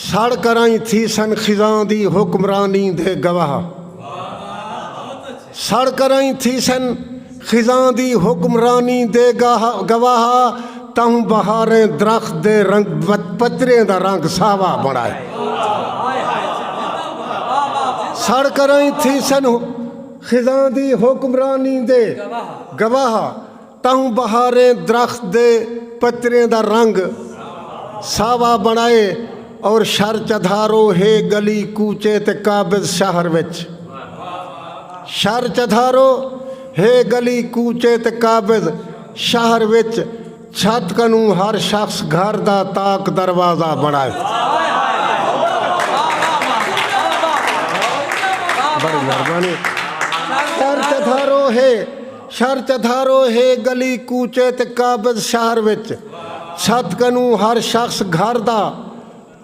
سڑ کرائیں تھیسن خزاں دی حکمرانی دے گواہ سڑ کرائیں تھیسن خزاں دی حکمرانی دے گواہ تہوں بہاریں درخت دے رنگ پتریں دا رنگ ساوا بنائے سڑ کرائیں تھیسن خزاں دی حکمرانی دے گواہ تہوں بہاریں درخت دے پتریں دا رنگ ساوا بنڑائے اور شر چدھارو ہے گلی کوچے تے قابض شہر وچ شر چدھارو ہے گلی کوچے تے قابض شہر وچ چھت کنوں ہر شخص گھر دا تاک دروازہ بنڑائے۔ شھر چتھارو ہے گلی کوچے تے قابض شہر وچ چھت کنوں ہر شخص گھر دا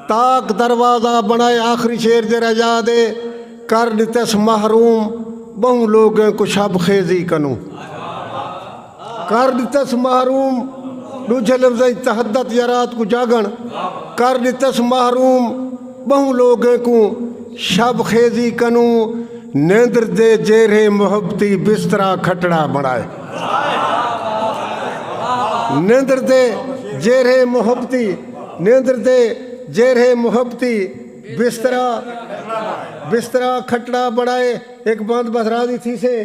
تاک دروازہ بنڑائے آخری شعر جیرھا یاد ہے کر ڈتس محروم بہوں لوگیں کوں شب خیزی کنوں کر ڈتس محروم ڈوجھے لفظاں اچ تحدت یا رات کوں جاگنڑ کر ڈتس محروم ٻہوں لوگیں کوں شب خیزی کنوں نیندر دے جیرھے محبتی بسترا کھٹڑا بݨائے نیندر دے جیرھے محبتی نیندر دے جیرھے محبتی بسترا بسترا کھٹڑا بݨائے ہک بند بس راضی تھیسے